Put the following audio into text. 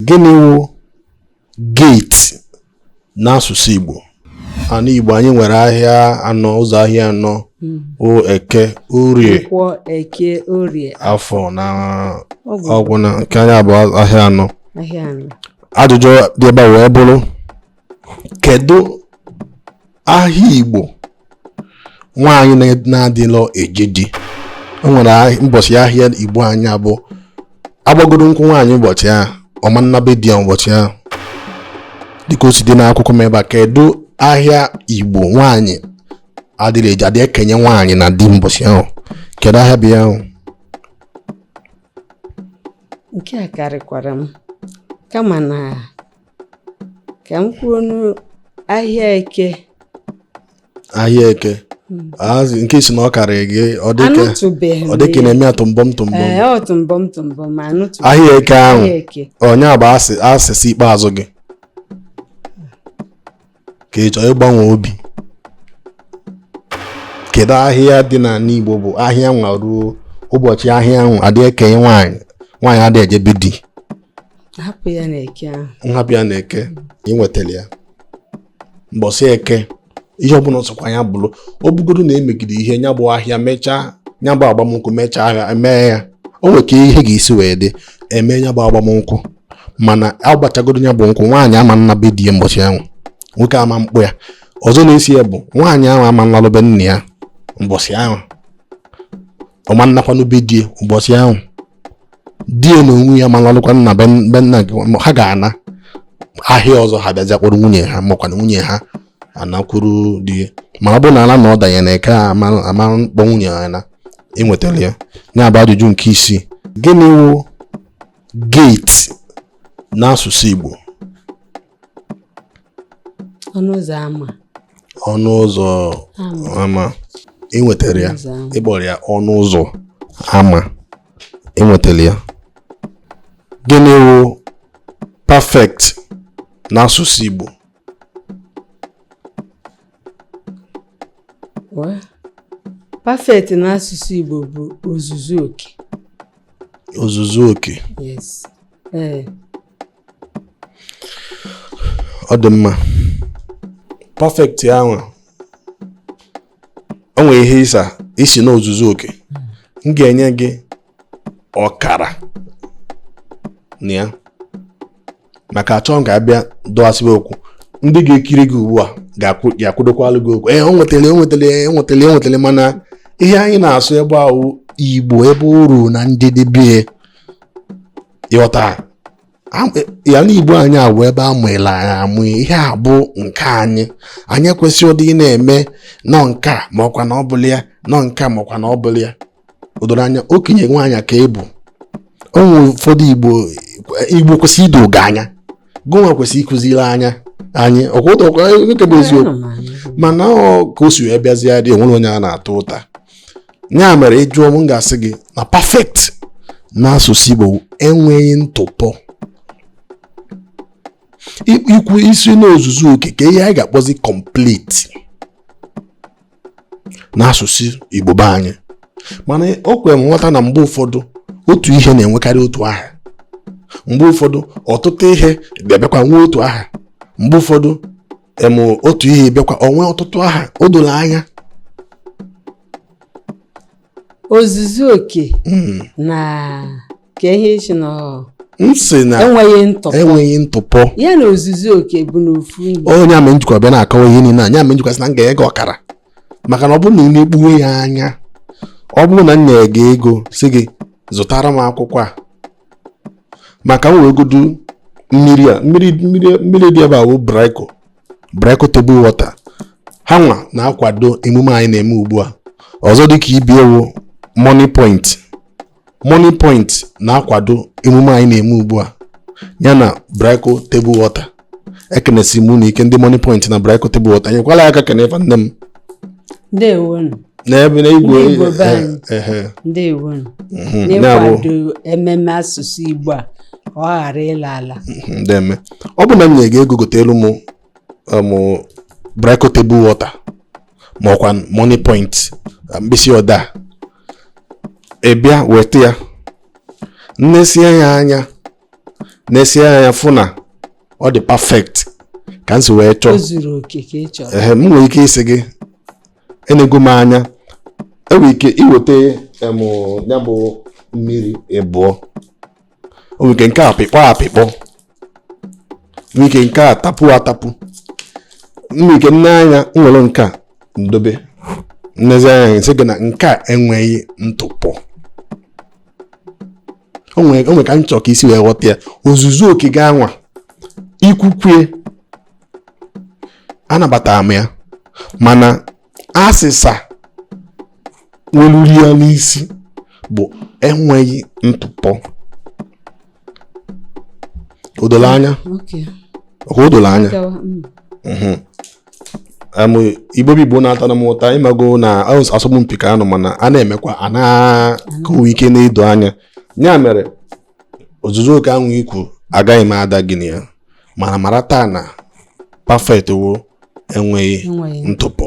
Gịnị wụ gate n'asụsụ Igbo? Ana Igbo anyị nwere ahịa anọ ụzọ ahịa anọ hmm. o eke orie eke orie afọ na nkwọ na nke nya bụ ahịa anọ ajụjụ dị ebe a wee bụrụ kedu ahịa igbo nwaanyị na-adịlọ eje di o nwere mbọchị ahịa igbo ọ ya-abụ a gbagoro nkwụ nwaanyị ụbọchị a ọ ma nna be di ya ụbọchị a dịka o si dị n'akwụkwọ m ebe a kedu ahịa igbo nwaanyị adịlọ eje adị ekenye nwaanyị na di mbọchị ahụ kedu ahịa bụ ya ahụ nke a karịkwara m kama na ka m kwuo n'ahịa eke ahịa eke hmm. nke ị si na ọ karịrị gị ọ dị ka ị na-eme ya tụmbọm tụmbọm ahịa eke ahụ ọ nya bụ asịsa ikpeazụ gị ka ị chọọ ịgbanwe obi kedu ahịa dị n'ala Igbo bụ ahịa nwa ruo ụbọchị ahịa ahụ adị ekenye nwaanyị nwaanyị adị ejebe di m hapụ ya na eke ahụ hapụ ya na eke i nwetara ya mbọsị eke ihe ọbụla ọ sọkwa ya bụrụ ọ bụgodo na e megide ihe nya bụ ahịa mechaa nya bụ agbamnkwụ mechaa a ga-eme ya o nwere ka ihe ga-esi wee dị eme nya bụ agbamnkwụ mana a gbachagodo ya bụ nkwụ nwaanyị ama nna be di ya mbọchị ahụ nwoke ama mkpọ ya ọzọ na-eso ya bụ nwaanyị ahụ ama nlalụ be nna ya mbọchị ahụ ọ ma nnakwanụ be di ụbọchị ahụ di ya na onwe ya ma nlalụkwanụ be nna gị ha ga-ana ahịa ọzọ ha bịazi kpọrọ nwunye ha makwana nwunye ha anakwuru di ma ọ bụ na ala na ọ danyere eke a ama mkpọ nwunye ha naa i nwetara ya nya bụ ajụjụ nke isii gịnị wụ gate n'asụsụ Igbo ọnụ ụzọ ama ọnụ ụzọ ama ị nwetara ya ị kpọrọ ya ọnụ ụzọ ama ị nwetara ya gịnị wụ perfect n'asụsụ Igbo perfect n'asụsụ Igbo bụ ozuzu oke ozuzu oke yes ee eh. ọ dị mma perfect ahụ o nwere ihe ị sa ị si na ozuzu oke m ga-enye gị ọkara na ya maka achọ m ka abịa dọghasịba okwu ndị ga-ekiri gị ugbu a ga-akwụdokwalụ gị okwu ee o nwetara mana ihe anyị na-asụ ebe ahụ igbo ebe uru na njedebe ịghọta ya na igbo anyị a wụ ebe a mụela anyị amụ ihe a bụ nke anyị anyị ekwesịghị ịdị na-eme nọ nke a ma ọkwa na ọ bụla ya nọ nke a ma ọkwa na ọ bụla ya o doro anya okenye nwaanyị ka ị bụ e o nwe ụfọdụ igbo igbo kwesịrị ido gị anya gụnwa kwesịrị ịkụziri anyị anyị ọkwụtọkwa nke bụ eziokwu mana ọ ka o si wee bịazie dị o nwere onye a na-ata ụta ya mere ị jụọ m m ga-asị gị na perfect n'asụsụ igbo enweghị ntụpọ ikwu ị sị n'ozuzu oke ka ihe anyị ga-akpọzi complete n'asụsụ Igbo be anyị mana o kwere m nghọta na mgbe ụfọdụ otu ihe na-enwekarị otu aha mgbe ụfọdụ ọtụtụ ihe abịakwa nwee otu aha mgbe ụfọdụ em otu ihe bịakwa nwee ọtụtụ aha o doro anya ozuzu oke hmm. na ka ị sị na m sị na enweghị ntụpọ enweghị ntụpọ ya na ozuzu oke bụ n'ofu ọ nya mere m jikwa bịa na-akọwa ihe niile a nya mere m jikwa sị na m ga-enye gị ọkara maka na ọ bụrụ na ị na-ekpughe ya anya ọ bụrụ na m nyere gị ego sị gị zụtara m akwụkwọ a maka m wee godu mmiri a mmiri mmiri dị ebe a bụ briko briko table water ha nwa na-akwado emume anyị na-eme ugbu a ọzọ dịka ibe ya wụ moniepoint moniepoint na-akwado emume anyị na-eme ugbu a ya na briko table water ekenesi m unu ike ndị moniepoint na briko table water nyekwala ya aka kene fa nne m ndewonu n'ebe n'igwe Ndị Igbo be anyị. ehe, ndewonu mhm, na-abụ n'ịkwado ememe asụsụ igbo a ka ọ ghara ịla ala mhm, deme ọ bụ na m nyere gị ego gotelu m um, briko table water ma ọkwa moniepoint mkpịsị odee a. ị bịa weta ya m nesie ya anya nesie anya fụ na ọ dị perfect ka m si wee chọọ o zuru oke ka ị chọrọ ehe m nwere ike ịsị gị enego m anya enwere ike iweta em, ya bụ mmiri ịbụọ o nwere ike nke a pịkpọ apịkpọ nwere ike nke a tapu atapu nwere ike m nee anya m were nke a m dobe m nezie anya m sị gị na nke a enweghị ntụpọ o nwere ka m chọọ ka i si wee ghọta ya ozuzu oke gị anwa i kwukwee anabatara m ya mana asịsa weluri ya n'isi bụ enweghị ntụpọ o dola anya Okay. o dolo anya Gawa. Mm. Mhm. igbo bụ igbo unu atana m ụta ị mago na asọmpi ka a nọ mana a na-emekwa a na-akọwa ya ka ọ na-edo anya ya mere ozuzu oke anwa i kwu agaghị m ada gị na ya mana mara taa na perfect wụ enweghị ntụpọ